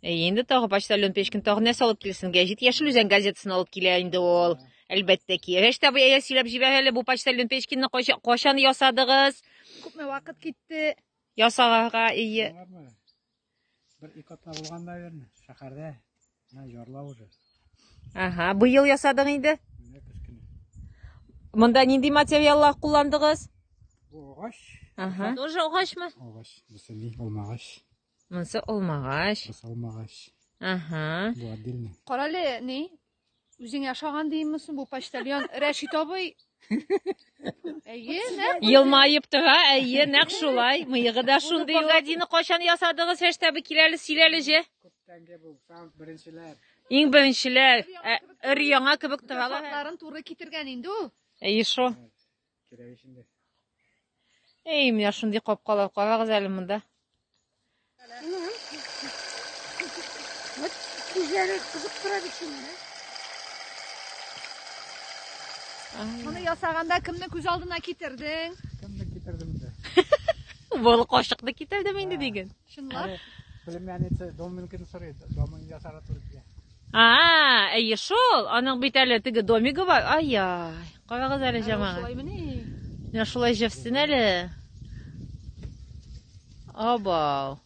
Әйе, инде тагы почтальон Печкин тагы нәрсә алып килсен? Гәҗит Яшел Үзән газетасын алып килә инде ул. Әлбәттә ки. Рәш тә бая сөйләп җибәр әле бу почтальон Печкинны кайчан ясадыгыз? Күпме вакыт китте? Ясарга ие. Бер ике атна булган, наверное, шәһәрдә. Менә ярла уже. Ага, быел ясадың инде? Монда нинди материаллар кулландыгыз? Бу агач. Ага. Тоже агачмы? Агач, бу сәни, алмагач. Монсы алмагач. Монсы алмагач. Ага. Бу отдельно. Карале, ни? Үзең яшаган димме соң бу почтальон Рәшит абый? Әйе, нә? Елмаеп тора, әйе, нәк шулай. Мыегы да шундый. Гадины кайчан ясадыгыз, Фәштәбе киләле, сөйләле же. Күптәнге бу, беренчеләр. Иң беренчеләр. Өр яңа кебек торалар. Фатларын туры китергән инде ул. Әйе шо. Кирәк өчен дә. Әй, менә шундый капкалар карагыз әле монда. Күзләре кызып тора бит шуның. Моны ясаганда кемне күз алдына китердең? Кемне китердем инде? Бул кошыкны китердем инде диген. Чынлап? Племянница Доминкин сорый, Домин ясарга туры килә. А-а, әйе шул, аның бит әле теге домигы бар, ай-яй, карагыз әле җамага. Шулай мени? Менә шулай җевсен әле. Абау.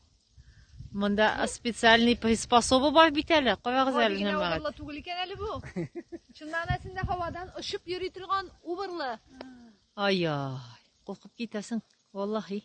Монда специальный приспособа бар бит әле, карагыз әле җамага. Убырлы түгел икән әле бу. Чыннан әсендә һавадан очып йөри торган убырлы. Ай-яй, куркып китәсең, валлахи.